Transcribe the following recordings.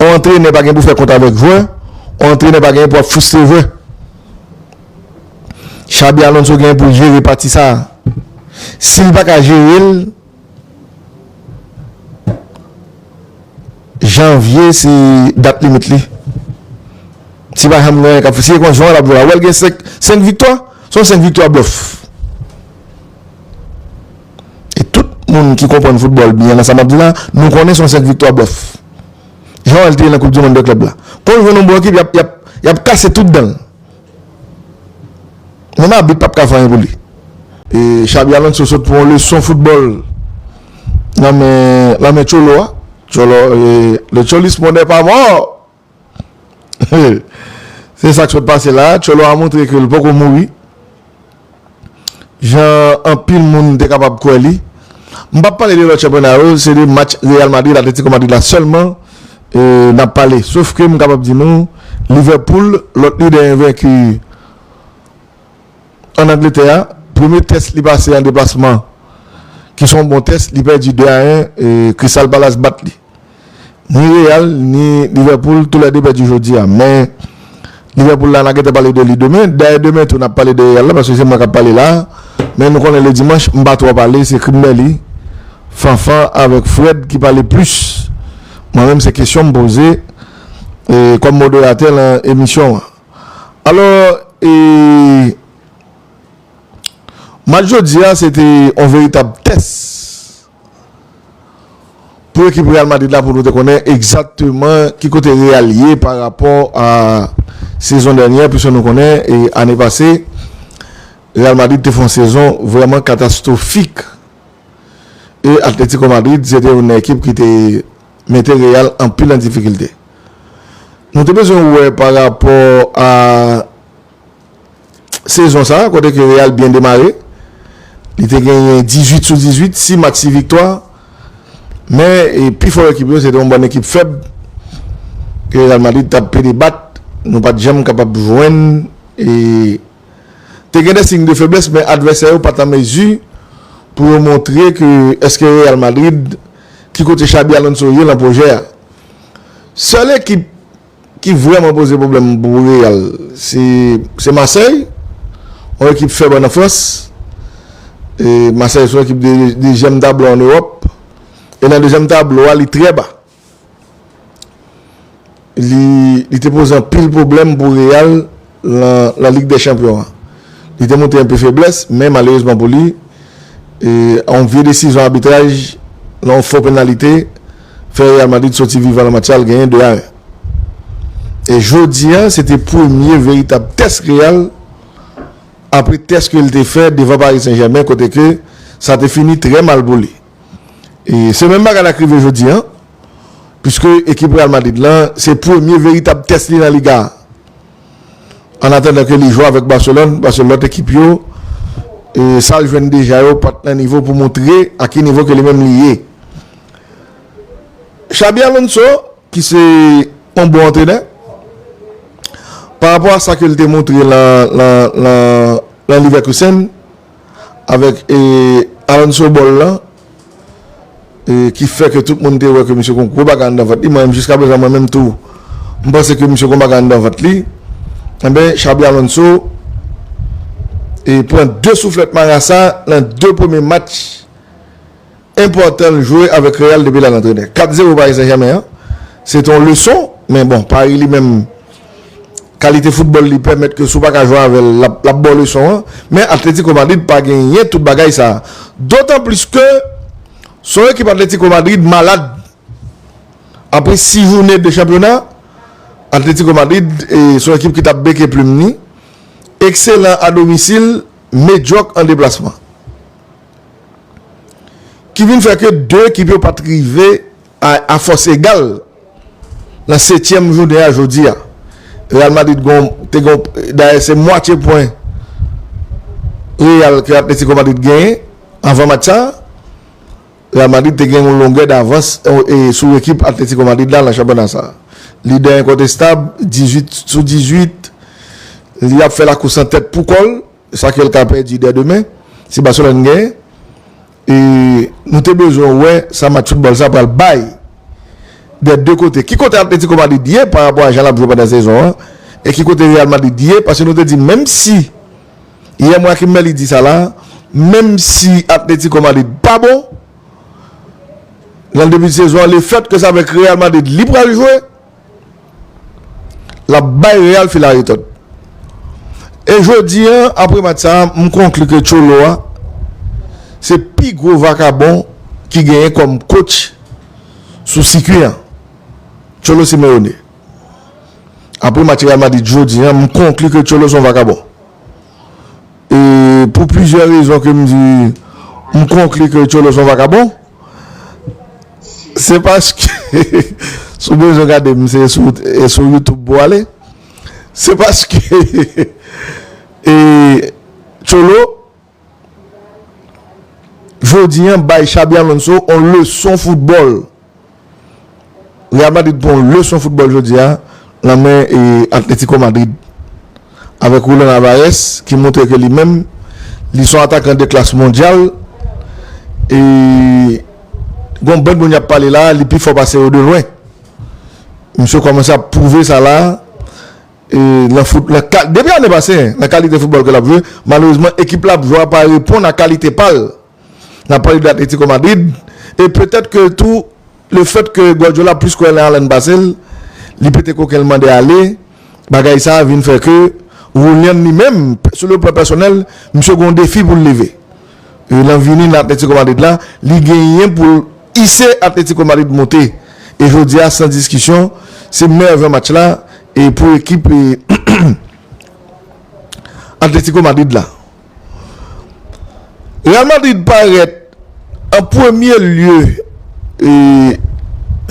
On antrenè pa gen pou fè kont avèk jwè, on antrenè pa genyen pou ap fristre jwè. Xabi Alonso genyen pou l jere pati sa. Si l pa ka jere l, janvye se dat limit li. Si pa janm genyen kap fè, si e kon jwè l ap jwè la, wè l gen 5 viktwa, son 5 viktwa blòf. e tout moun ki konprann foutbòl byen nan sa m ap di la, nou konnen se yon senp viktwa blòf. Jan l te ye nan koup di monn 2 klèb la. Kon l jwenn yon bon ekip y ap y ap y ap kase tout dan l. Menm abit p ap ka fè anyen pou li. E Xabi Alonso sot pran yon leson foutbòl nan men nan men Cholo a. Cholo e le Cholismo n'est pas mort! Se sa k sot pase la a, Tcholo a montre ke l poko mouri jan anpil moun te kapab kwè li. M p ap pale de lòt chanpyona yo, se de match Real Madrid, Atlético Madrid la sèlman n ap pale. Sof ke m kapab di nou Liverpool, lòt lidè envenki ann Angletè a, premye tès li pase an deplasman ki s on bon tès, li pèdi 2 a 1, Crystal Palace bat li. Ni Real ni Liverpool tou lè 2 pèdi jodi a men Liverpool la na gentan pale de li demen dayè demen tou nap pale de Real la paske se mwen kap pale la men nou konnen le dimanch m pa twò pale se Krimberly, Fanfan avèk Fred ki pale plis mwen menm se kesyon m poze kòm moderatè lan emisyon an alò e match jodi a se te yon veritab tès Pou ekip Real Madrid la pou nou te konnen egzakteman ki kote Real ye pa rapò a sezon dènyè pwiske nou konnen ane pase Real Madrid te fè yon sezon vrèman katastwofik e Atletico Madrid se te youn nan ekip ki te mete Real anpil an difikilte. Nou te bezwen wè pa rapò a. sezon sa kote ke Real byen demare, li te genyen 18 sou 18, 6 match 6 viktwa, men pi fò ekip yo se te yon bann ekip fèb ke Real Madrid tap pede bat, nou pat janm kapab jwenn e te gen de siy de feblès men advèsè yo pat an mezi pou yo montre ke eske Real Madrid ki kote Xabi Alonso ye lan pwojè a. Sèl ekip. ki vrèman poze pwoblèm pou Real se Marseille yon ekip fèb an Frans e Marseille se yon ekip de dezyèm tablo an Ewòp e nan dezyèm tablo a li trè ba li te poze anpil pwoblèm pou Real Lan Lig dè Chanpyon an, li te montre enpe feblès, men malerezman pou li, yon vye desizyon abitraj lan yon fo penalite fè Real Madrid soti vivan lan match la, l genyen 2 a 1. E jodi a, se te premye veritab tès Real apre tès ke l te fè devan Paris Saint-Germain kote ke sa te fini trè mal pou li. E se menm bagay la k rive jodi a, piske ekip Real Madrid lan, se premye veritab tès li lan Liga a. An atandan ke li jwe avèk Barcelone, paske lòt ekip yo, sa l jwenn deja yo pat nan nivo pou montre a ki nivo ke li menm li ye. Xabi Alonso, ki se yon bon antrenè, parapò a sa ke l te montre lan Leverkusen, Avèk Alonso Ball lan ki fè ke tout moun te wè ke misye gen yon gwo bagay anndan vant li, mwen menm jiska prezan mwen menm tou m panse ke misye gen yon bagay anndan vant li, enben Xabi Alonso pran 2 souflèt marasa nan 2 premye match. enpòtan l jwe avèk Real depi l al antrenè. 4 zero Paris Saint Germain an se te yon leson men bon Paris li menm kalite foutbòl li pèmèt ke si w pa ka jwe avè l l ap ba w leson an men Atlético Madrid pa genyen tout bagay sa a dotan plis ke se yon ekip Atlético Madrid malad apre 6 jounen de chanpyona Atlético Madrid se yon ekip ki t ap beke plim ni ekselan a domisil medyòk an deplasman. ki vin fè ke 2 ekip yo pat rive a fòs egal nan 7 tièm jounen a jodi a Real Madrid gon te gon dayè se mwatye pwen Real ke Atletico Madrid genyen avan match sa Real Madrid te gen yon longè davans sou ekip Atletico Madrid la nan chanpyona sa lidè enkontestab 18 sou 18 li ap fè lakous an tèt pou kòl. sa ke l ka pèdi dè demen si Barcelone genyen e nou te bezwen wè sa match football sa pral bay dè 2 kote ki kote Atlético Madrid ye pa rapò a jan l ap jwe pandan sezon an e ki kote Real Madrid ye paske nou te di menm si yè mwen ak Merly di sa la menm si Atlético Madrid pa bon nan debi sezon an le fèt ke sa vek Real Madrid li pral jwe. L ap bay Real fil a retòd. E jodi an, apre match sa a, m konkli ke Cholo a se pi gwo vakabon ki genyen kòm kotch sou sikui an. Cholo Simeone. Apre match Real Madrid jodi an, m konkli ke Cholo se yon vakabon. E pou plizyè rezon ke m di, m konkli ke Tcholo se yon vakabon. Se paske, si w bezwen gade m, se sou YouTube pou w ale. Se paske, e Tcholo, jodi an, bay Xabi Alonso yon leson foutbòl. Real Madrid pran yon leson foutbòl jodi a nan men Atletico Madrid avèk Julian Alvarez ki montre ke li menm li son atakan de klas mondyal e gen yon bann moun y ap pale la a li pi fò pase yo de lwen. Misye kòmanse ap pwouve sa la nan fout nan ka depi ane pase nan kalite foutbòl ke l ap jwe malerezman ekip la ap jwe a pa reponn a kalite pa l. N ap pale de Atletico Madrid e petèt ke tou le fèt ke Guardiola plis kwè nan Haaland pase l, li pete koken l mande ale, bagay sa vin fè ke Julian li menm sou le plan pèsonèl misye gen yon defi pou l leve e lan vini nan Atletico Madrid la li genyen pou l ise Atletico Madrid monte e jodi a san diskisyon se mèyè van match la e pou ekip Atletico Madrid la. Real Madrid parèt an premye lye e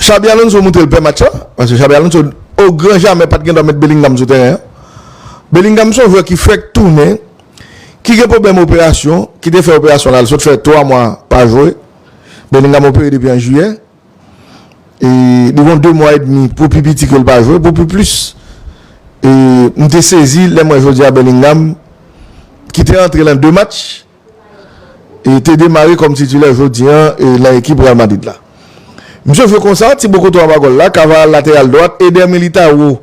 Xabi Alonso montre l pè match la paske Xabi Alonso o gran jamè pat gendwa met Bellingham sou tèren an. Bellingham son jwè ki fèk tounen ki gen pwoblèm operasyon ki te fè operasyon l al sot fè 3 mwa pa jwe Bellingham opere depi an jiyè. E li gon 2 mwa edmi pou pi piti ke l pa jwe pou pi plis. E m te sezi lè m wè jodi a Bellingham ki te antre lan 2 match e te demare kòm titilè jodi an lan ekip Real Madrid la. Misye jwe konsa, ti bo kote w aba gòl la, Cavaral lateral dwat, Eder Militao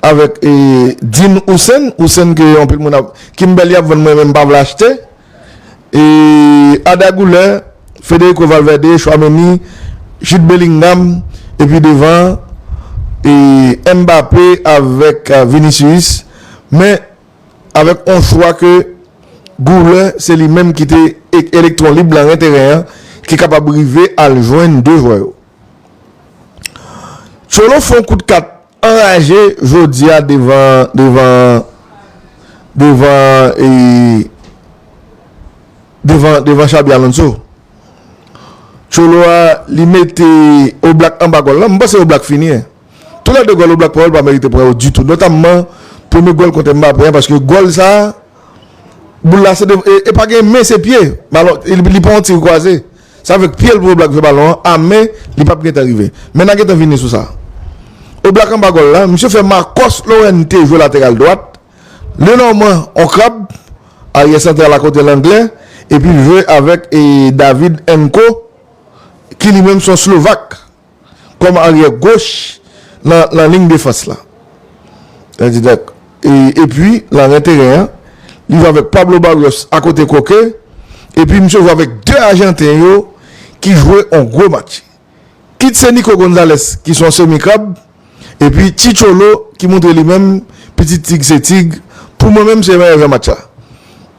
avèk Dean Hussen, Hussen ke anpil moun ap, Kimbelly ap vann mwen menm m pa vle achte. E Arda Guler, Federico Valverde, Tchouaméni, Jude Bellingham epi devan an e Mbappé avèk Vinicius men avèk on chwa ke Guler se li menm ki te elektwon lib lan ren teren an ki kapab rive al jwenn 2 jwè yo. Cholo fè on kout kat Anraje jodia devan devan devan e devan devan Xabi Alonso Cholo a li mete Oblak anba gòl lan m panse Oblak fini tou lè 2 gòl Oblak pran yo l pa merite pran yo ditou notamman premye gòl kontè Mbappé an paske gòl sa boul la se de e pa gen men se pye balon li pran yon tir kwaze. Se avèk pye l pou Oblak fè balon an a men li pap gentan rive. Men na gentan vini sou sa. Oblak anba gòl la, misye fè Marcos Llorente jwe lateral dwat, Lenormand on krab, aryè santral a kote Langlè, epi l jwe avèk David Enko ki li menm son Slovak. kòm aryè goch nan ling defans la. Epi lan ren teren an, li jwe avèk Pablo Barrios akote Koke, epi misye jwe avèk 2 ajanten yo ki jwe yon gwo match. Kit se Nico Gonzalez ki se yon semi krab, epi Chicolo ki montre li menm pitit tig se tig, pou mwen menm se meyè jwè match la.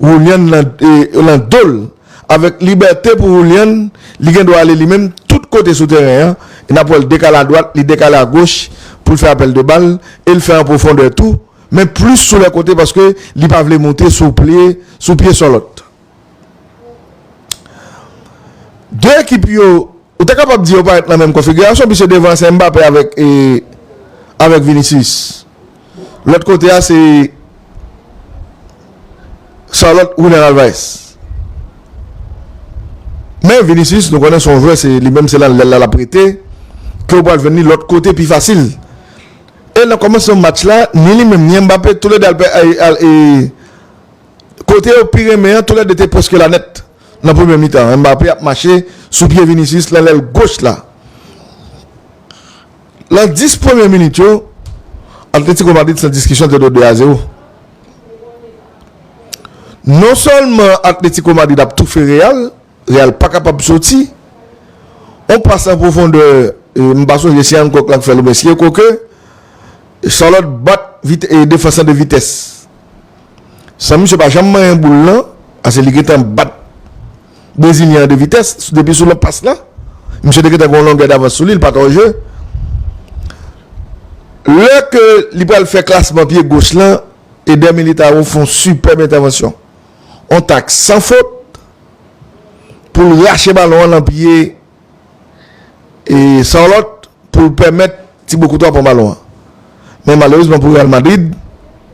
Julian lan dol avèk libète pou Julian li gen dwa ale li menm tout kote sou tèren an e nap wèl dekale a dwat li dekale a goch poul fè apèl de bal el fè an pwofondè tou men plis sou lè kote paske li pa vle moute sou plie sou pye sòlòt 2 ekip yo Ou te kapab di yo parèt nan menm konfigirasyon puiske devan an se Mbappé avèk avèk Vinicius. Lòt kote a se Charlotte Julian Alvarez. Men Vinicius nou konnen se yon jwè se li menm se lan lèl la lap rete ke ou pral jwenn li lòt kote pi fasil. E nan kòmansman match la ni li menm ni Mbappé tou lè 2 al pè al e kote yo pi renmen an tou lè 2 te pwèske la nèt. Nan premye mitan an, Mbappé ap mache sou pye Vinicius nan lèl goch la. Nan 10 premye minit yo, Atlético Madrid san diskisyon te dwe 2 a 0. Non sèlman Atlético Madrid ap toufe Real, Real pa kapab soti. On pas an pwofondè, m pa sonje si Hancock la k fèl oubyen si Koke, Charlotte bat defans lan de vitès. San misye pa janm manyen boul lan pase li gentan bat brezilyen an 2 vitès depi sou lan pas lan misye te gentan gen yon longè davans sou li li pa t an je lè ke li pral fè klasman pye goch lan Eder Militao fè yon sipèb entèvansyon yon tak san fot pou l rache balon an lan pye e Charlotte pou l pèmèt Thibaut Courtois pran balon an. Men malerezman pou Real Madrid,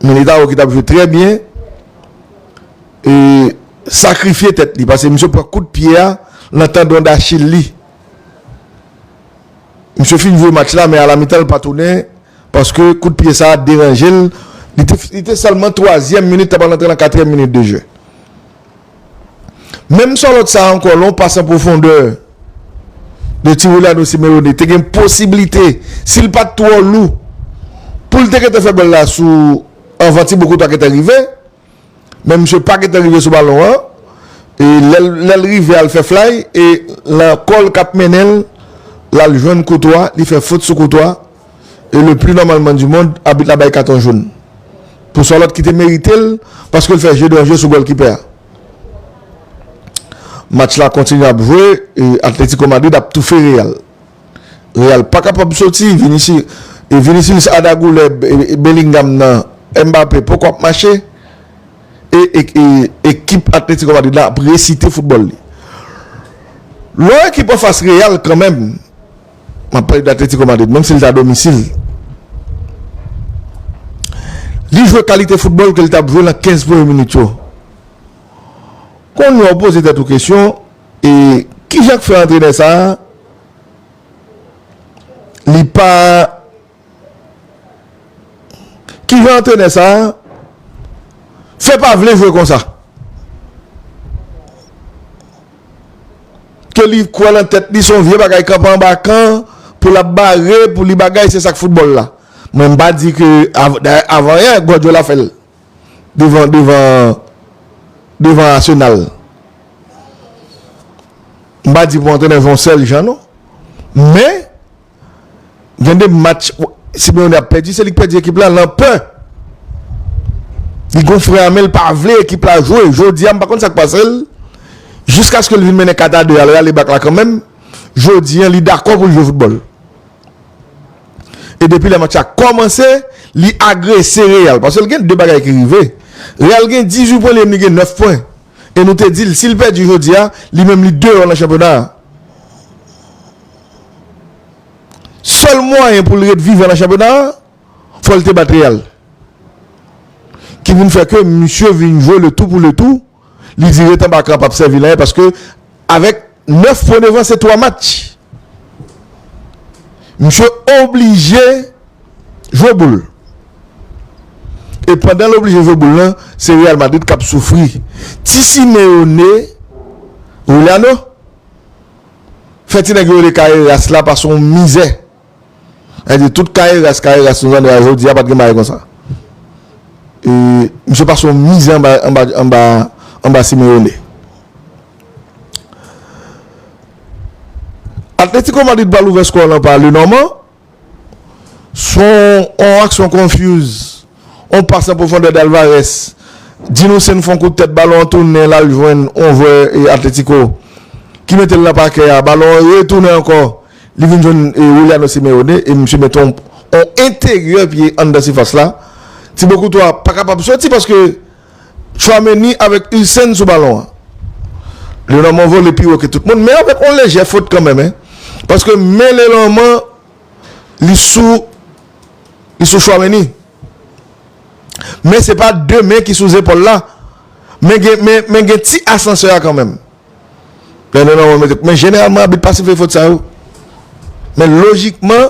Militao ki t ap jwe trè byen e sakrifye tèt li pase misye pran kout pye a nan tandon dachil li. Misye fin jwe match la men a la mitan l pa tounen paske kout pye sa a deranje l. Li te sèlman twazyèm minit, li t ap pral antre nan katriyèm minit de jeu. Menm Charlotte sa ankò lè w pase an pwofondè de Tiwilano Simeone te gen posiblite si l pat twò lou pou l te gentan fè gòl la sou anvan Tibo Courtois gentan rive men misye pa gentan rive sou balon an e lè l rive al fè flay e lan kò l k ap mennen l la l jwenn Courtois li fè fot sou Courtois. e le pli nòmalman di mond abit la bay katon joun pou Sorloth ki te merite l paske l fè je danje sou gòlkipè a. Match la kontinye ap jwe e Atlético Madrid ap toufe Real. Real pa kapab soti e Vinicius a dagoulè Bellingham nan Mbappé poko ap mache e ekip Atlético Madrid la ap resite foutbòl li. Lò ekip anfas Real kanmenm. map pale de Atletico Madrid menm si li te a domisil li jwe kalite foutbòl ke li tap jwe nan 15 premye minit yo kounye a ou poze tèt ou kesyon e kijan k fè antrenè sa li pa Kijan antrenè sa fè pa vle jwe konsa? Ke li kwè lan tèt li son vye bagay kanpe anba kan pou lap bare pou li bagay se sak foutbòl la. Mwen m pa di ke dayè avan yè Guardiola fè l devan devan devan Arsenal. M pa di pou antrenè jwe yon sèl jan non men Gen 2 match Simeone ap pèdi se li k pèdi ekip la lan pè. Li gon fren a men l pa vle ekip la jwe. Jodi a m pa konn sa k pase l jiskaske l vin mennen 4 a 2 a l rale bak la kanmenm. Jodi an li dakò pou l jwe foutbòl. E depi lè match la kòmanse li agrese Real paske l gen 2 bagay ki rive. Real gen 18 pwen li menm li gen 9 pwen e nou te di l si l pèdi jodi a li menm li deyò lan chanpyona a. Sèl mwayen pou l ret vivan nan chanpyona a, fò l te bat Real. Ki vin fè ke misye vin jwe le tou pou le tou, li di ret anba kan pap sèvi l anyen paske avèk 9 pwen devan se 3 match. Misye oblije jwe boul. E pandan l oblije jwe boul lan, se Real Madrid kap soufri. Ti Simeone, Juliano. Fè ti nèg yo rele Carreras la pa son mizè. Nèg di tout Carreras, Carreras nou tande a jodi a pat gen bagay konsa. E misye pa son mizè anba, anba, anba, anba Simeone. Atletico Madrid pral ouvè skò lan pa Lenormand. Son on aksyon confuse, on pas an pwofondè d'Alvarez. Di nou se n fon kout tèt balon an tounen l al jwenn on jwè Atletico ki mete l nan pakè a, balon an retounen ankò li vin jwenn Juliano Simeone e misye mete on enteryè pye anndan sifas la. Thibaut Courtois pa kapab soti paske. Tchouaméni avèk Hussein sou balon an. Lenormand vole pi wo ke tout moun men avèk on lejè fot kanmenm hein paske men Lenormand li sou li sou Tchouaméni men se pa 2 men ki sou zepòl la men gen men men gen ti asansè a kanmenm lè Lenormand mete men jeneralman abit pa sifle fot sa yo men lojikman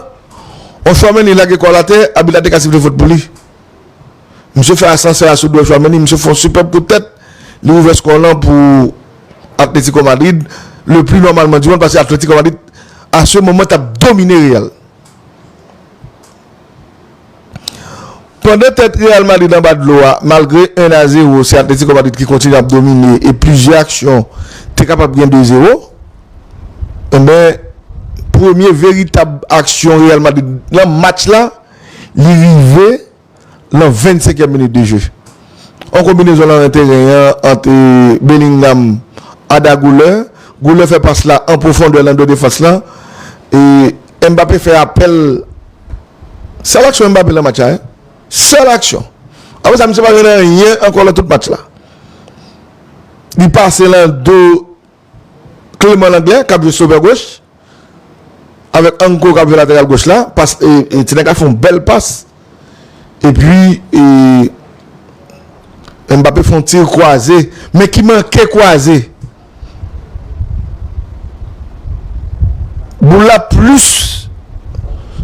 on Tchouaméni lage kò l atè abit la te ka sifle fot pou li. Misye fè asansè a sou dwèt Chouameni, misye fè yon sipèb kout tèt, li ouvè skò w lan pou Atletiko Madrid, le pli nòmalman di mond, paske Atletiko Madrid a se moman t ap domine Real. Pandan tèt Real Madrid anba dlo a, malgre 1 a 0, se Atletiko Madrid ki kontinye ap domine e plizyè aksyon te kapab gen 2 0, enben premye veritab aksyon Real Madrid nan match la, li rive. nan 25 èm minit de je. On konbinezon lan ren teren an ant Bellingham Arda Guler, Guler fè pas la an pwofondè lan do defans lan e Mbappé fè apèl sèl aksyon Mbappé lan match la hein sèl aksyon apre sa misye pa jwenn anyen ankò lan tout match la li pase lan do Clément Langlais kap jwe sovè goch avèk Anko kap jwe lateral goch la pas e ti nèg la fè yon bèl pas epi e Mbappé fè yon tir kwaze men ki manke kwaze boul la plis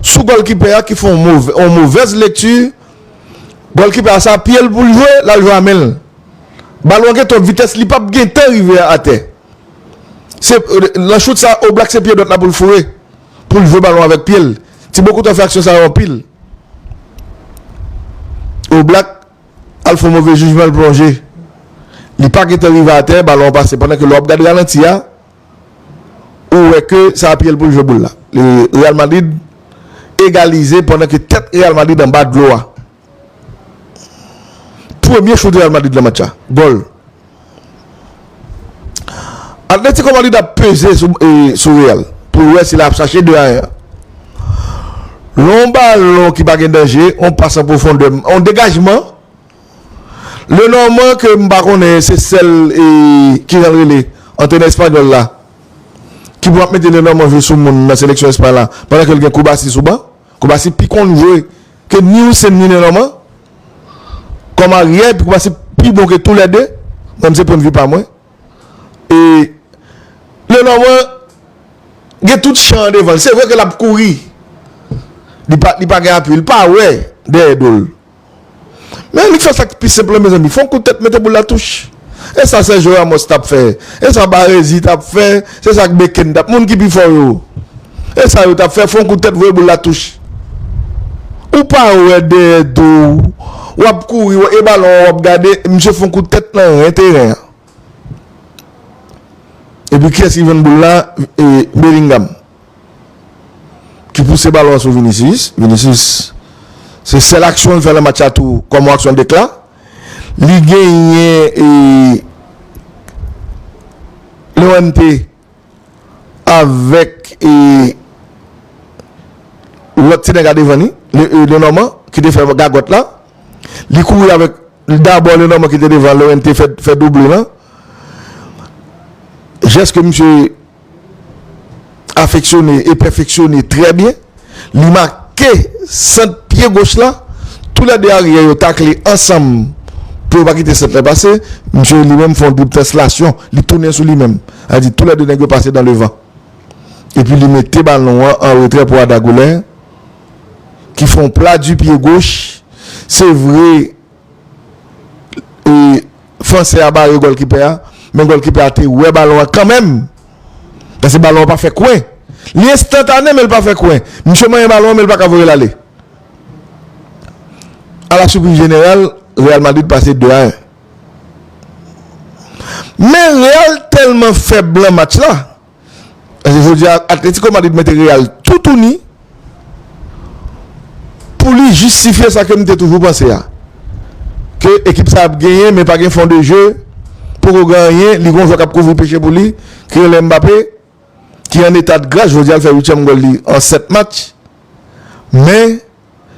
sou gòlkipè a ki fè yon move yon movèz lekti gòlkipè a se a pyel poul jwe lal jwe a menl. Balon an gen twòp vitès li pap gentan rive a atè. Se nan chout sa Oblak se pye dwat la pou l foure pou l jwe balon avèk pye l. Tibo Courtois fè aksyon sa yo anpil. Oblak al fè yon move jijman l plonje. Li pa gentan rive atè balon an pase pandan ke lè w ap gade ralanti a ou wè ke sa a pye l pou l jwe boul la. Real Madrid egalize pandan ke tèt Real Madrid anba dlo a. Premye choute Real Madrid nan match la, gòl. Atletico Madrid ap peze sou Real pou l wè si l ap chache 2 a 1 an. Lè yon balon ki pa gen danje, yon pas an pwofondè, yon degajman, Lenormand ke m pa konnen se sèl ki jan l rele antrenè espanyòl la ki pou ap mete Lenormand jwe sou moun nan seleksyon Espay la pandan ke l gen Kubasi sou ban. Kubasi pi konn jwe. Ke ni ou sèm ni nen Norman Kòm aryè pou pase pi bon ke tou lè 2 Mwen se pwendvi pa mwen E Nen Norman Gen tout chan an devanl se vre ke lap kouri Li pa li pa gen apui li pa wè dèyè dol Men li fè sak pi senp lan mezanmi fon kout tèt mete boul la touch. E sa Sergio Ramos t ap fè? E sa Baresi t ap fè? Se sa Bekend t ap Moun ki pi fò yo E sa yo t ap fè Fon kout tèt voye boul la touch Ou pa wè dèyè do w W ap kouri e balon an w ap gade Misye fon kout tèt nan ren teren an Epi kiyès ki jwenn boul la E Bellingham Ki pouse balon an sou Vinicius Vinicius Se sèl aksyon l fè nan match la tou Kòm yon aksyon dekla Li genyen e Lè wè m te avèk e lòt ti nèg a devan li, Lenormand ki te fè gagòt la, li kouri avèk dabò Lenormand ki te devan Lorente fè double lan. Jès ke misye. afeksyone e pèfeksyone trè byen. Li make sant pye goch la. Tou lè 2 aryè yo takle ansanm pou yo pa kite sant lan pase. Misye li menm fè yon drib translasyon. Li tounen sou li menm. Sa vle di tou lè 2 nèg yo pase dan devan. Epi li mete balon an an retrè pou Ada Goulin ki fè yon plat di pye goch. Se vre. e fransè a bare gòlkipè a men gòlkipè a te wè balon an kanmenm paske balon an pa fè kwen li enstantane men li pa fè kwen misye manyen balon an men li paka voye l ale a la sipriz jeneral Real Madrid pase 2 a 1 men Real tèlman fèb lan match la Paske jodi a Atletico Madrid mete Real toutouni pou li jistifye sa ke m te toujou panse a. Ke ekip sa ap genyen men pa gen fon de je, poko gen anyen, li gen yon jwè k ap kouvri peche pou li ki rele Mbappé ki an etadgras, jodi a l fè uityèm gòl li an 7 match. Men.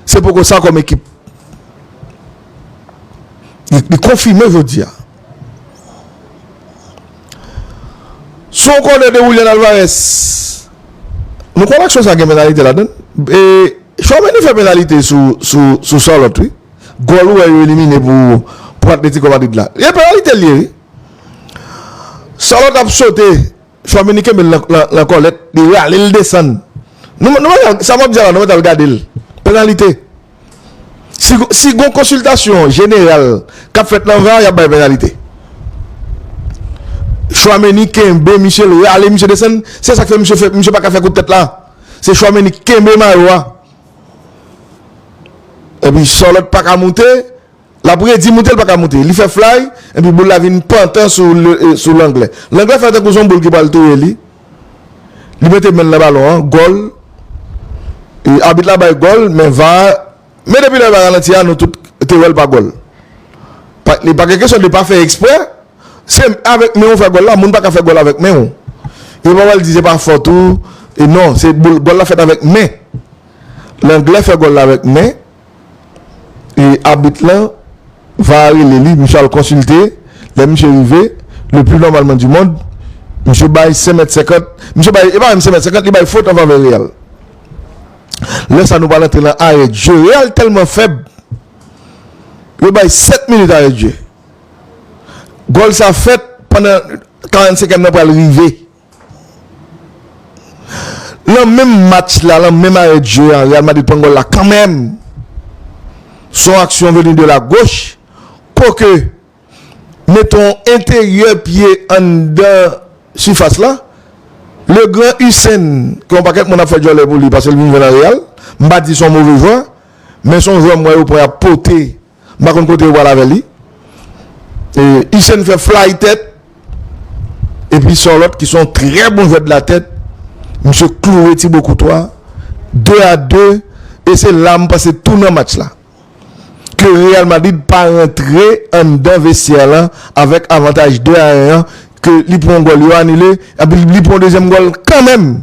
Se poko sa kòm ekip. Li konfime jodi a. Sou yon kònè de Willian Alvarez, nou kwè aksyon sa gen penalite ladan l. E Tchouameni fè penalite sou Charlotte wi. Gòl ou wè yo elimine pou Atletico Madrid la. E penalite l ye wi. Charlotte ap sote. Chwa mini kenbe l lan kòlèt li rale l desann sa map di a la nou mèt al gade l pennalite si gon konsiltasyon jeneral kap fèt lan var yap bay pennalite Chwa mini kenbe misye l rale misye desann se sak fè misye paka fè kout tèt la se chwa mini kenbe mayo a epi sòlòt paka moute. Lap redi moute l paka moute. Li fè flay epi boul la vin pantan sou Langlè. Langlè fè tankou son boul ki pral touye li. Li mete men l nan balon an, gòl. Abit la bay gòl men var a men depi lè var ralanti a nou tout te wè l pa gòl. Li pa gen kesyon li pa fè eksprè. Se avèk men ou fè gòl la, moun paka fè gòl avèk men ou. Yo pa pral di se pa fòt ou. Non, gòl la fèt avèk men. Langlè fè gòl la avèk men. e abit lan va rele li, misye al konsilte, lè misye rive, le plus normalement du monde, misye bay 5 mèt 50, misye bay, e pa menm 5 mèt 50, li bay fot anfavè Real. Lè sa nou pral antre nan arè dje, Real tèlman fèb, yo bay 7 minit arè dje. Gòl sa fèt pandan 45 èm nan pral rive. Lan menm match la, lan menm arè dje a, Real Madrid pran gòl la kanmèm. Son aksyon veni de la goch, koke mete yon enteryè pye anndan sifas la, le gran Hussein, ke yon pakèt moun ap fè djòlè pou li paske li vin jwe lan Real, m pa di son move jwè, men son jwè m wè yo pran y ap pote M pa konn kote yo pral avè li. Hussein fè fly tèt. Epi Sorlot ki son trè bon jwè de la tèt. Misye kloure Thibaut Courtois. 2 a 2. E se la m panse tounan match la. Ke Real Madrid pa rantre anndan vestyè lan avèk avantaj 2 a 1 an. Ke li pran gòl yo anile. Epi li pran dezyèm gòl kanmenm.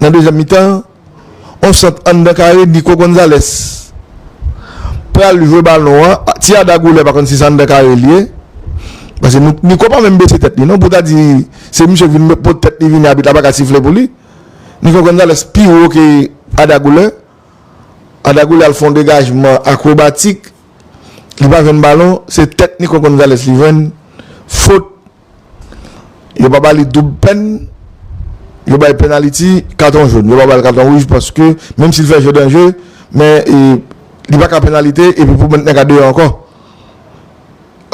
Nan dezyèm mitan an, on sant anndan kare Nico Gonzalez pral jwe balon an, ti Arda Güler pa konn si se anndan kare li ye, paske Nico pa menm bese tèt li non pou w ta di se misye vin met pot tèt li vini abit la pa ka sifle pou li. Nico Gonzalez pi wo ke Arda Güler, Arda Güler al fè yon degajman akrobatik li pa jwenn balon, se tèt Nico Gonzalez li jwenn, fot Yo pa ba li doub pèn, yo bay penaliti, katon joun. Yo pa ba li katon wouj paske menm si li fè jeu danje, men li pa ka penalite epi pou mèt nan ka deyò ankò.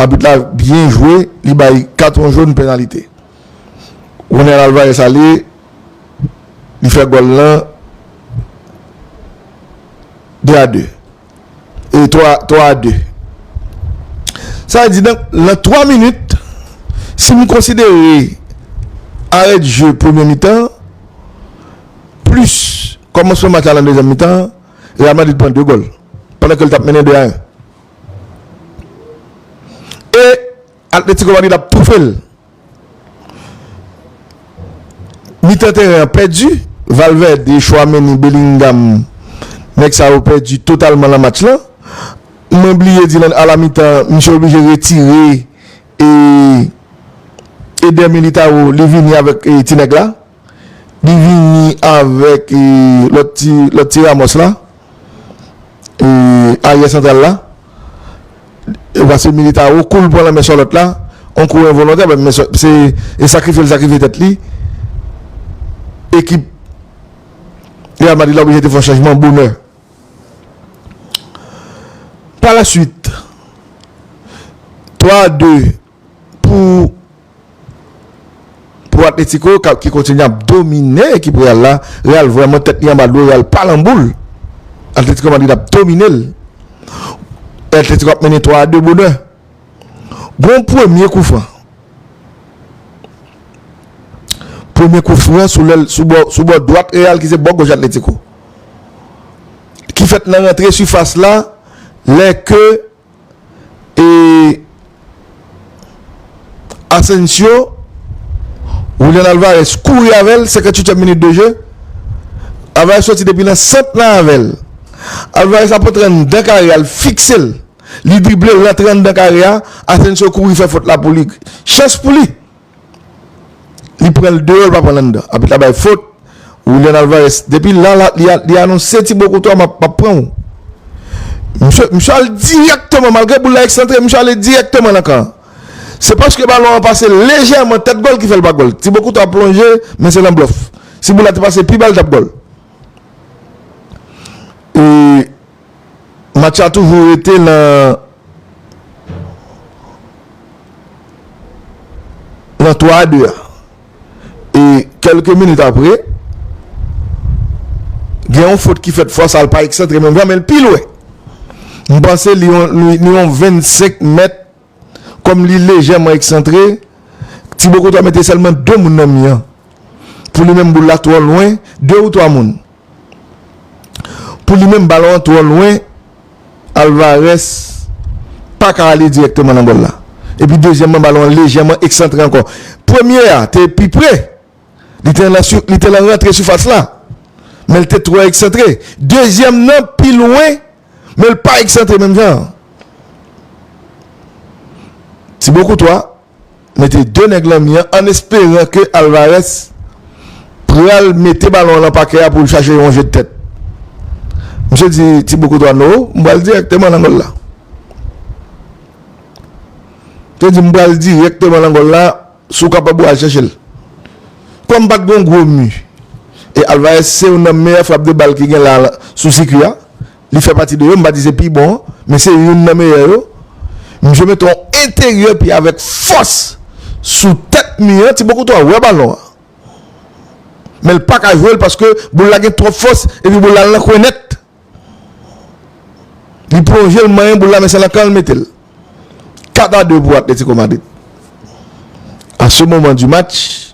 Abit la byen jwe, li bay katon joun penalite. Ronel Alvarez ale, li fè gòl lan 2 a 2. E 3 3 a 2. Sa vle di nan nan 3 minit si m konsidere arè de jeu premye mitan an plis kòmansman match la nan dezyèm mitan an Real Madrid pran 2 gòl pandan ke l t ap mennen 2 a 1. E Atlético Madrid ap toufe l. Mitan teren an pèdi, Valverde, Tchouaméni, Bellingham, nèg sa yo pèdi totalman lan match lan. Mwen bliye di lan a la mitan, misye oblije retire Eder Militao li vini avèk ti nèg la. Li vini avèk lòt ti lòt ti Ramos la aryè santral la pase Militao kou l pran lanmen Charlotte la on kou envolontè men se sakrifye l sakrifye tèt li ekip Real Madrid la oblije te fè yon chanjman bonè pa la suite 3 a 2. pou pou Atletico ki kontinye ap domine ekip Real la, Real vrèman tèt li anba dlo, Real pa lan boul, Atletico Madrid ap domine l, Atletico ap mennen 3 a 2 bonè, gon premye koufran, premye koufran sou lèl sou bò dwat Real ki se bò goch Atletico ki fèt nan rantre sifas la lè ke. E Asensio, Julian Alvarez kouri avè l, 58 èm minit de je, Alvarez soti depi nan sant lan avè l, Alvarez ap antre anndan kare a, l fikse l, li drible l rantre anndan kare a, Asensio kouri fè fot la pou li, chans pou li! Li pran l deyò li pa pran l anndan. Abit la bay fot. Willian Alvarez depi la li anonse ti bo koutwa map pran w. Misye al dirèkteman malgre boul la eksantre misye ale dirèkteman nan kan an. Se paske balon an pase lejèman tèt gòl ki fè l pa gòl. Ti bo koutwa plonje men se nan blòf. Si boul la te pase pi ba li t ap gòl. E Match la toujou rete nan nan 3 a 2 a e kelke minit apre gen yon fot ki fèt fwa sa l pa eksantre menm jan men l pi lwen m panse li yon 25 mèt Kòm li lejèman eksantre, Ti Bokoto a mete sèlman de moun nan mi an. Pou li menm boul la twò lwen de ou twa moun. Pou li menm balon an twò lwen Alvarez pa ka ale dirèkteman nan gòl la. Epi dezyèmman balon an lejèman eksantre ankò. Premye a te pi pre, li te lan li te lan rantre sifas la. Men li te twò eksantre. Dezyèm nan pi lwen Men l pa eksante menm jan an. Thibaut Courtois mete 2 nèg lan mi an an esperan ke Alvarez pral mete balon an lan pakè a pou l chache yon je de tèt. Misye di Thibaut Courtois no, m pral dirèkteman lan gòl la. Misye di m pral dirèkteman lan gòl la, Si w kapab ou al chèche l. Kòm pat gon gwo mu e Alvarez se youn nan meyè frap de bal ki gen la sou sikui a, li fè pati de yo, m pa di se pi bon an, men se youn nan meyè yo. Misye mete yon enteryè pye avèk fòs sou tèt mu an, Thibaut Courtois wè balon an, men l paka jwe l paske boul la gen twòp fòs epi boul la al nan kwen nèt. Li pwonje l manyen boul la men se nan kan l mete l. 4 a 2 pou Atletico Madrid. A se moman di match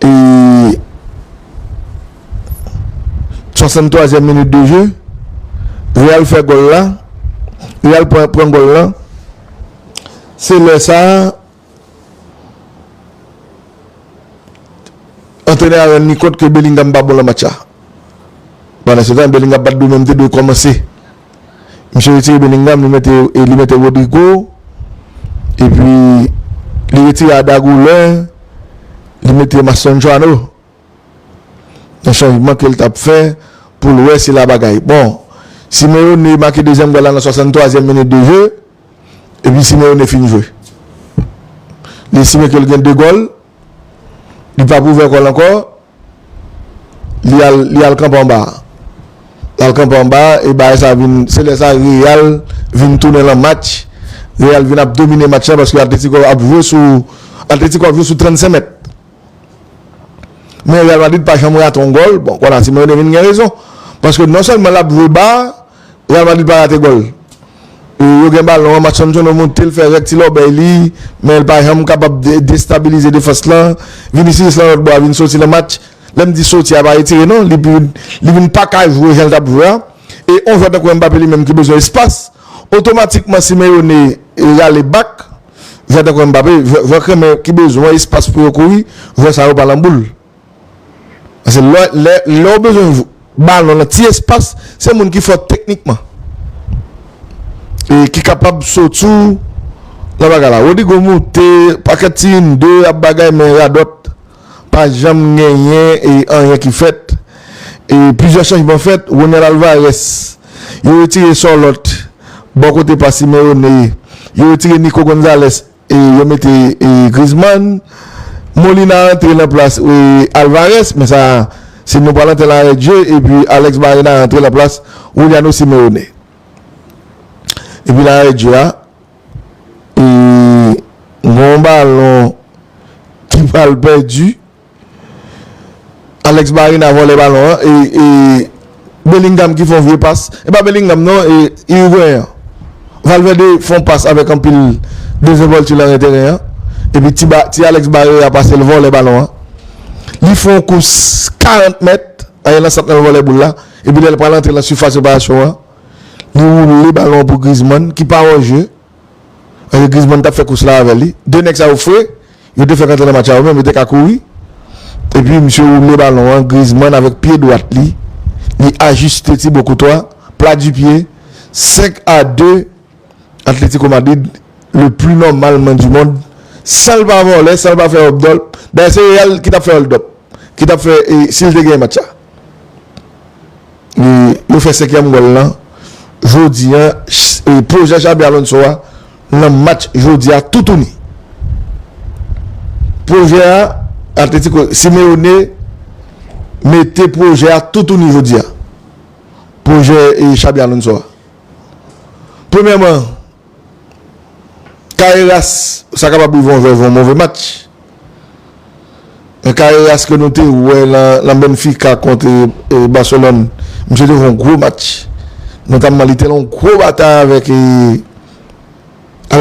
e 63 zièm minit de je Real fè gòl la Real pran gòl la se lè sa Antrenè a rann li kont ke Bellingham pa bon lan match la. Pandan se tan, Bellingham pat dwe menm te dwe kòmanse. Misye retire Bellingham, li mete e li mete Rodrygo. E pi li retire Arda Güler, li mete Mastrandjano. Yon chanjman ke l t ap fè pou l wè si la bagay bon. Simeone make dezyèm gòl la nan 63 zyèm minit de je. Epi Simeone fin jwe. Li estime ke li gen 2 gòl. Li pap ouvè kò l ankò. Li al kanpe anba. Li al kanpe anba e bagay sa vin, se lè sa Real vin tounen lan match. Real vin ap domine match la paske Atlético ap jwe sou, Atlético ap jwe sou 35 mèt. Men Real Madrid pa janm rate yon gòl. Bon, konsa Simeone vin gen rezon. Paske non sèlman l ap jwe ba. Real Madrid pa rate gòl. Yo gen balon an, Marcanchono monte, l fè rèk ti lòbèy li, men l pa janm kapab destabilize defans lan. Vinicius lan lòt bò a vin soti nan match. Lè m di soti a pa retire non, li vin li vin pa ka jwe jan l t ap jwe a. E yon jwè tankou Mbappé li menm ki bezwen espas, otomatikman Simeone rale bak jwè tankou Mbappé, jwè jwè kremè ki bezwen espas pou yo kouri, jwè sa yo pa lan boul. Pase lè ou bezwen balon nan ti espas, se moun ki fò teknikman e ki kapab sot sou nan bagay la. Rodrigo moute pakèt ti yn de ap bagay men radòt pa janm genyen e anyen ki fèt. E plizyè chanjman fèt, Ronel Alvarez, yo retire Sorloth bò kote pa Simeone, yo retire Nico Gonzalez Yo mete Griezmann, Molina rantre nan plas Alvarez, men sa se nou palan tèl arè dje, epi Alex Baena rantre nan plas Juliano Simeone. Epi nan arè dje a, gon balon ki pral pèdi, Alex Baena vòlè balon an e e Bellingham ki fon vye pas e pa Bellingham non e Iriguen an Valverde fon pas avèk anpil dezenvolti lan ren teren an epi ti ba ti Alex Bareya pase l vòlè balon an li fon kous 40 mèt ale lan sant lan l vòlè boul la epi lè l pral antre lan sifas reparasyon an li woule balon an pou Griezmann ki pa òje. Ange Griezmann tap fè kous la avèl li. 2 nèg sa yo fre, yo te fèk antre nan match la yo menm, yo te ka kouri. Epi misye woule balon an, Griezmann avèk pye dwat li, li ajiste Thibaut Courtois, plat du pied, 5 a 2 Atlético Madrid le plus normalement du monde, sanl pa vòlè, sanl pa fè hold up, dayè se Real ki tap fè hold up, ki tap fè, si li te genyen match sa. Yo fè senkyèm gòl lan jodi an. Pwojè Xabi Alonso a nan match jodi a toutouni. Pwojè a Atletiko Simeone mete pwojè a toutouni jodi a. Pwojè Xabi Alonso a. Premyèman. Carreras sa kapab rive yon vèv yon move match. Men Carreras ke nou te wè nan Benfica kont Barcelone, misye te fè yon gwo match. Notamman li te nan yon gwo batay avèk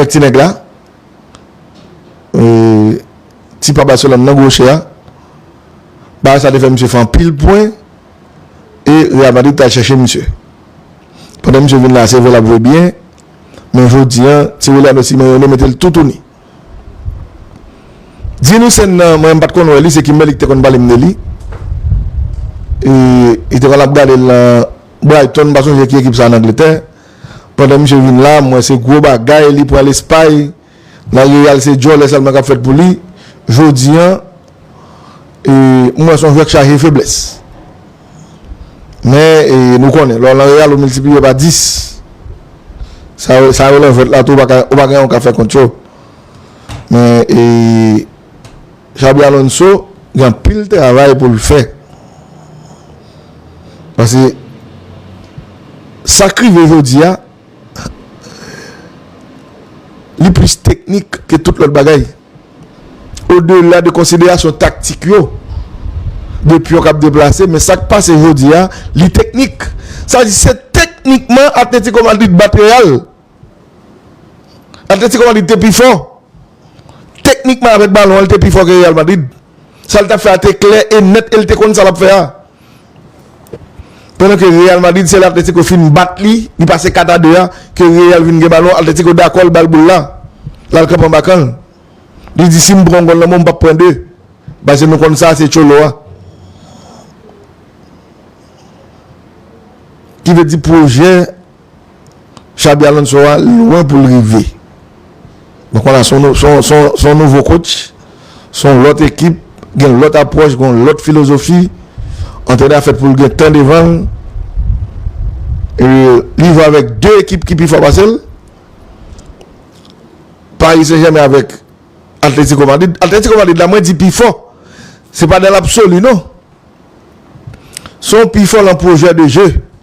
ti nèg la. Ti pa Barcelone nan goche a. Batay sa te fè misye fè anpil pwen. E Real Madrid te al chèche misye. Pandan misye vin la se vwe l ap vwe byen. Men jodi an tireli a mesi mwen renmen metel toutouni di nou sèn nan mwen pat konn wè li se kimberly ki te konn pale m de li e li te konn ap gade l nan Brighton m pa sonje ki ekip sa an angletè pandan misye vin la mwen se gwo bagay li pran lespay. Nan Real se djòlè sèlman kap fèt pou li jodi an e m wè son jwè k chaje feblès men e nou konnen lè w nan Real ou miltipliye pa 10 sa yo sa yo lan jwèt la tou ou pa gen anyen w ka fè kont yo men e Xabi Alonso gen anpil travay pou l fè pase sa k rive jodi a. Li plis teknik ke tout lòt bagay. Odela de konsiderasyon taktik yo, de pyon k ap deplase, men sa k pase jodi a, li teknik. Sa vle di se teknikman Atlético Madrid bat Real. Atlético Madrid te pi fò. Teknikman avèk balon an, li te pi fò ke Real Madrid. Sa l t ap fè a te klè e nèt e l te konn sa l ap fè a. Pandan ke Real Madrid se lè Atletico fin bat li, li pase 4 a 2 a, ke Real vin gen balon, Atletico dakò l ba l boul la. L al kanpe anba kan l. Li di si m pran yon gòl nan men w m p ap pran 2. Paske nou konn sa se Cholo a. Ki vle di pwojè. Xabi Alonso a lwen pou l rive. Donk wala se yon nouvo kotch, se yon lòt ekip, gen yon lòt apwòch, gen yon lòt filozofi. Antrenè a fèt pou l gen tan devan l. Li jwe avèk 2 ekip ki pi fò pase l. Paris Saint Germain avèk Atletico Madrid. Atletico Madrid la mwen di pi fò. Se pa nan lapsoli non. Se yon pi fò nan pwojè de je.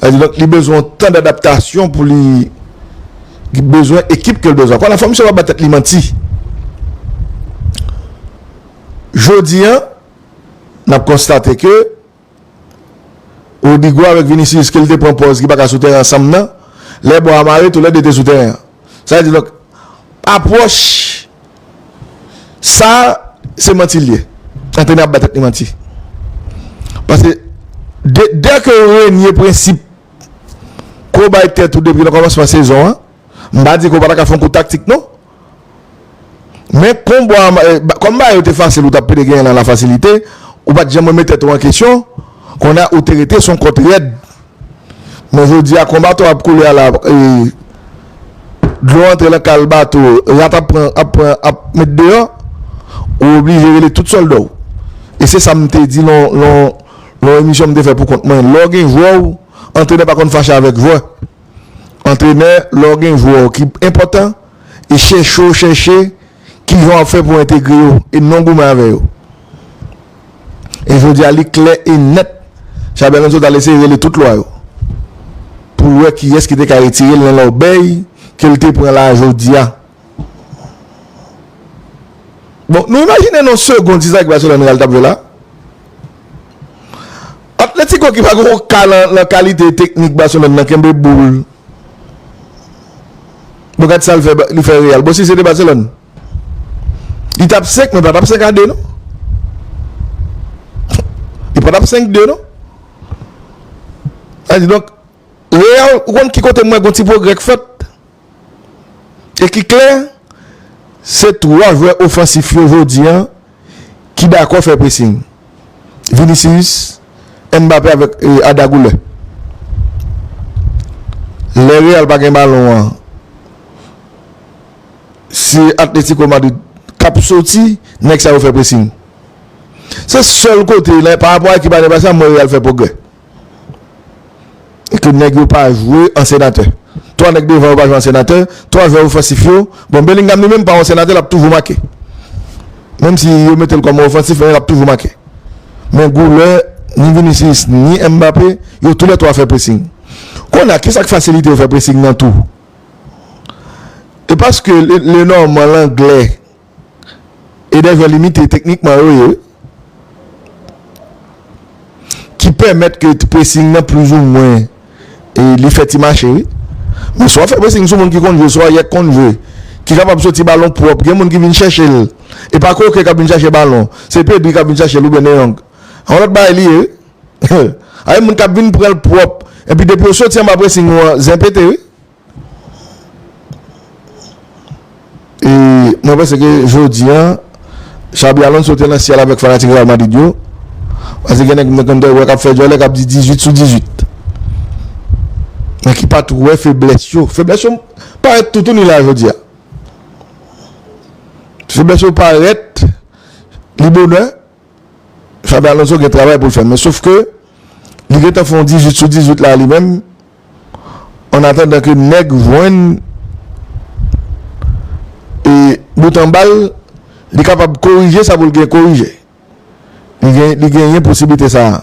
Sa di donk li bezwen yon tan d'adaptasyon pou li ki bezwen ekip ke l bezwen. Ankò la fwa misye pa bay tèt li manti. Jodi an n'ap konstate ke Rodrygo avèk Vinicius ke l te pran pòz ki pa ka sou tèren ansanm nan, lè bò a mare tou lè 2 te sou tèren an. Sa vle di donk apwòch sa se manti l ye. Antrenè ap bay tèt li manti. Pase dè ke ou renye prensip ke w bay tèt ou depi nan kòmansman sezon an, m pa di ke w pa ta ka fè yon kou taktik non. Men konba kòm bagay yo te fasil ou t ap pede genyen nan lafasilite, ou pa t janm renmen tèt ou an kesyon, kounye a ou te rete se yon kòt rèd. Men jodi a kon bato ap koule a la e dlo antre lan kal bato rat ap pran ap pran ap met deyò ou oblije rele tout sòlda w e se sa m te di lan lan lan emisyon m te fè pou kont mwen lè w gen jwè w antrenè pa konn fache avèk jwè antrenè lè w gen jwè w ki enpòtan e chèche w chèche kijan w ap fè pou entegre yo e non goumen avè yo. E jodi a li klè e nèt Xabi Alonso ta al eseye rele tout lwa yo pou l wè kiyès ki te ka retire l nan lòbèy ke l te pran la jodi a. Bon, nou imajine nou yon segond si sa ki Baselòn Real t ap jwe la? Atletiko ki pa gen yon ka nan kalite teknik Baselòn nan kenbe boul. Bon gad sa l fè Real. Bon si se te Baselòn? Li tap 5 men pa tap 5 a 2 non. Li pa tap 5 2 non. A di donk Real ou konn ki kote mwen gon ti pwogrè k fèt. E ki klè se 3 jwè ofansif yo jodi an ki dakò fè pressing. Vinicius, Mbappé avèk Arda Güler. Lè Real pa gen balon an. Se Atletico Madrid kap soti nèg sa yo fè pressing. Se sèl kote nan pa rapò a ekip ane pase a m wè Real fè pwogrè. E ke nèg yo pa jwe an senatè. 3 nèg devan yo pa jwe an senatè, 3 jwè ofansif yo, bon Bellingham li menm pa an senatè lap toujou make. Menm si yo mete l kòm ofansif men lap toujou make. Men goulè ni Vinicius ni Mbappé yo tou lè 3 fè pressing. Konnya kisak fasilite yo fè pressing nan tou? E paske le nòman, langle e dè vè limite teknikman yo ye ki pèmèt ke ti presing nan plizoumwen li fè ti mache wi. Men swa fè presing sou moun ki konn jwe, swa yè k konn jwe, ki kapab soti balon pwòp, gen moun ki vin chèche l. E pa Koke k ap vin chache balon, se Pedri k ap vin chache l oubyen De Jong. Yon lòt bagay li ye wi. Ae moun kap vin pranl pwop epi depi ou soti anba pressing ou an zen pete wi e mwen panse ke jodi an Xabi Alonso te nan syèl avèk fanatik Real Madrid yo pase gen nèg mwen konn wè kap fè djòlè kap di 18 sou 18 men ki pat wè feblès yo, feblès yo parèt toutouni la jodi a feblès yo parèt li bonè. Xabi Alonso gen travay pou l fè men sof ke li gentan fè yon 18 sou 18 la li menm an atandan ke nèg jwenn e bout anba l li kapab korije sa pou l gen korije li genyen posiblite sa a.